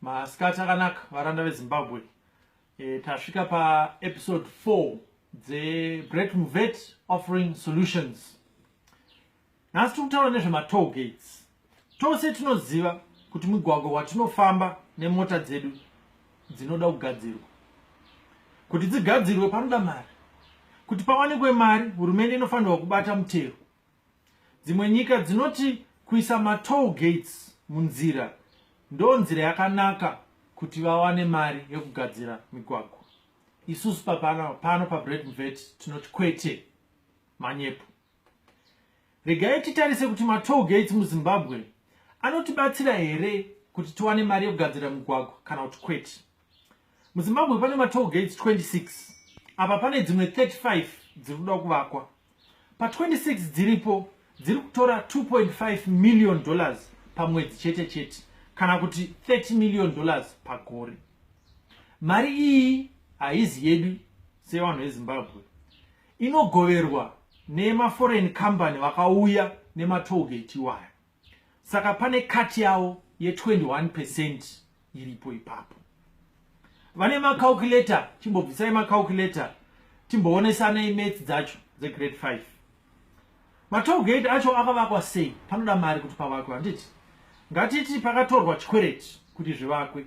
masikati akanaka varanda vezimbabwe e, tasvika paepisode 4 dzebret muvet offering solutions nhasi tiri kutaura nezvematoll gates tose tinoziva kuti mugwagwa watinofamba nemota dzedu dzinoda kugadzirwa kuti dzigadzirwe panoda mari kuti pawanikwe mari hurumende inofanirwa kubata mutero Dzimwe nyika dzinoti kuisa matoll gates munzira ndo nzira yakanaka kuti vawane mari yekugadzira migwagwa. Isusu papano pano paBread Mvet tinoti kwete, manyepo. Regai titarise kuti matoll gates muZimbabwe anotibatsira here kuti tiwane mari yekugadzira migwagwa kana kuti kwete. muzimbabwe pane matoll gates 26 apa pane dzimwe 35 dziri kuda kuvakwa pa26 dziripo dziri kutora 2.5 million dollars pamwedzi chete chete kana kuti 30 million dollars pagore mari iyi haizi yedu sevanhu vezimbabwe inogoverwa nemaforeign company vakauya nematoll gate iwaya saka pane kati yavo ye21 percent iripo ipapo vane macalculator chimbobvisai macalculator timboonesanei mats dzacho dzegrade 5 matogate acho akavakwa sei panoda mari kuti pavakwe handiti ngatiti pakatorwa chikwereti kuti zvivakwe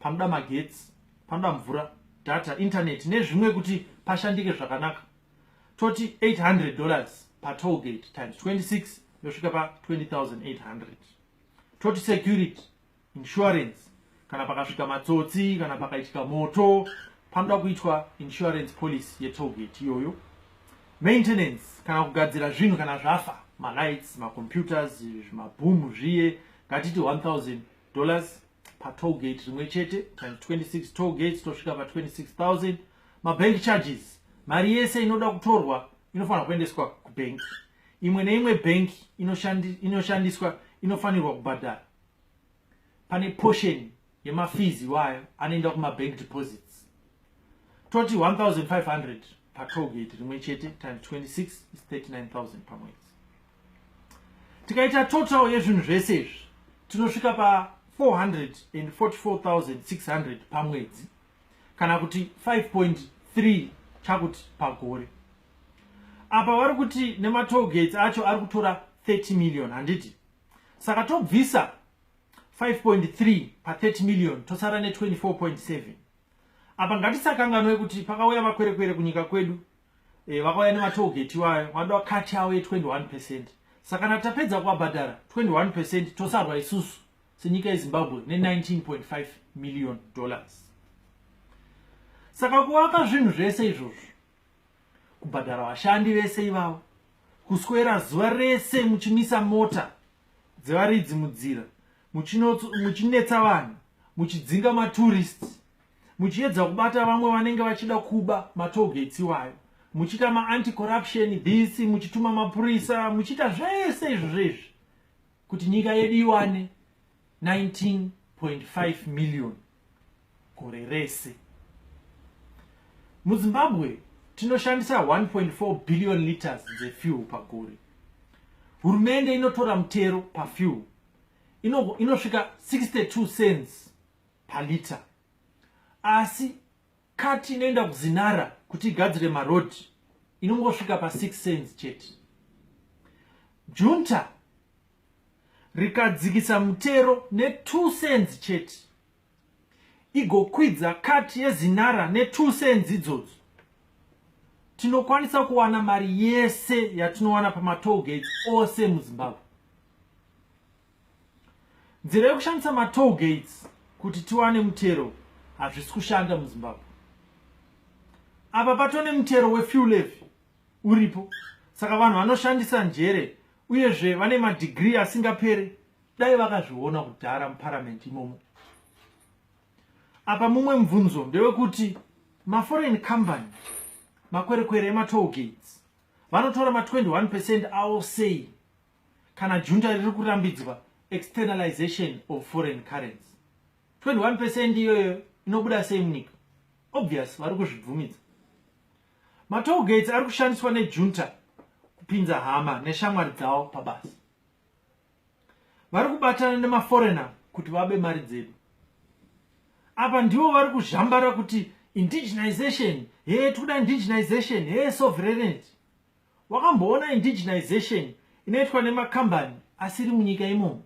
panoda magetsi panoda mvura data internet nezvimwe kuti pashandike zvakanaka toti 800 dollars patollgate times 26 yosvika pa 20800 toti security insurance kana pakasvika matsotsi kana pakaitika moto panoda kuitwa insurance policy yetollgate iyoyo maintenance kana kugadzira zvinhu kana zvafa malights macomputers zvimabhoomu zviye ngatiti 1000 dollars patoll gate rimwe chete times 26 toll gates tosvika pa26000 mabank charges mari yese inoda kutorwa inofanira kuendeswa kubank imwe neimwe bank inoshandiswa inofanirwa kubhadhara pane portion yemafees iwayo anoenda kumabank deposits toti 1500 patoll gate rimwe chete times 26 is 39000 pamwedzi tikaita total yezvinhu zvese izvi tinosvika pa 444600 pamwedzi kana kuti 5.3 chakuti pagore apa vari kuti nematogates acho ari kutora 30 million handiti saka tobvisa 5.3 pa 30 million tosara ne 24.7 apa ngatisakanganwe kuti pakauya makwerekwere kunyika kwedu e, vakauya nematogeti iwayo vanoda kati yavo ye21 percent saka kana tapedza kuvabhadhara 21 percent tosarwa isusu senyika yezimbabwe ne19.5 million dollars saka kuvaka zvinhu zvese izvozvo kubhadhara vashandi vese ivavo kuswera zuva rese muchimisa mota dzevaridzi mudzira muchinetsa vanhu muchidzinga maturist muchiedza kubata vamwe vanenge vachida kuba matogates iwayo muchiita maanti corruption this muchituma mapurisa muchiita zvese izvo zvezvi kuti nyika yedu iwane 19.5 million gore rese muzimbabwe tinoshandisa 1.4 billion liters dzefuel pagore hurumende inotora mutero pafuel inosvika 62 cents palita asi kati inoenda kuzinara kuti igadzire maroad inongosvika pa 6 cents chete junta rikadzikisa mutero ne 2 cents chete igokwidza kati yezinara ne 2 cents idzodzo tinokwanisa kuwana mari yese yatinowana pamatoll gates ose muzimbabwe nzira yekushandisa matoll gates kuti tiwane mutero hazvisi kushanda muzimbabwe apa patone mutero wefuel levy uripo saka vanhu vanoshandisa njere uyezve vane madhigiri asingapere dai vakazviona kudhara muparamende imomo apa mumwe mubvunzo ndewekuti maforeign company makwerekwere ematoll gates vanotora ma21 percent awo sei kana junta riri kurambidzwa externalization of foreign currency 21 percent iyoyo inobuda sei munyika obvious vari kuzvibvumidza matolgates ari kushandiswa nejunta kupinza hama neshamwari dzavo pabasa vari kubatana nemaforena kuti vabe mari dzedu apa ndivo vari kuzhambara kuti indigenization hee tikuda indigenization hee sovereignty wakamboona indigenization inoitwa nemakambani asiri munyika imomo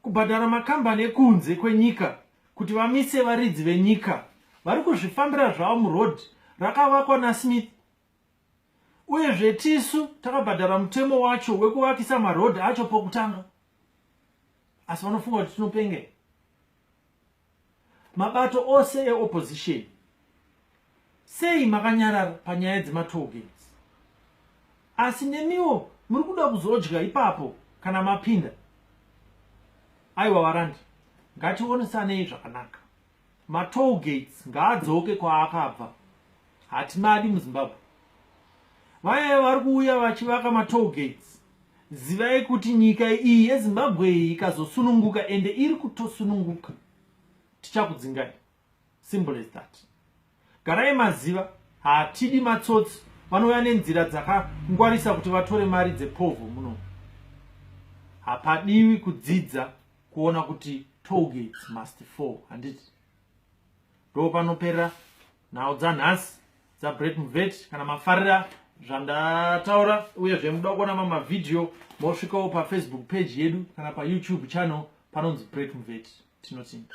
kubhadhara makambani ekunze kwenyika kuti vamise varidzi venyika vari kuzvifambira zvavo muroad rakavakwa nasmith uyezve tisu takabhadhara mutemo wacho wekuvakisa maroad acho pokutanga asi vanofunga kuti tinopengera mabato ose eopposition sei makanyarara panyaya dzematogates asi nemiwo muri kuda kuzodya ipapo kana mapinda aiwa varandi ngationesanei zvakanaka matogates ngaadzoke kwaakabva hatimadi muzimbabwe vayaya vari kuuya vachivaka matogates Zivai kuti nyika iyi yeZimbabwe iyi ikazosununguka ende iri kutosununguka tichakudzingai. Simple as that. Garai maziva hatidi matsotsi vanouya nenzira dzakangwarisa kuti vatore mari dzepovho muno. Hapadiwi kudzidza kuona kuti toll gates must fall handiti. Ndopanoperera nhau dzanhasi dzabret muvet kana mafarira zvandataura uyezve muda kuona mamwe mavhidhiyo mosvikawo pafacebook page yedu kana payoutube channel panonzi bret muvet tinotsinda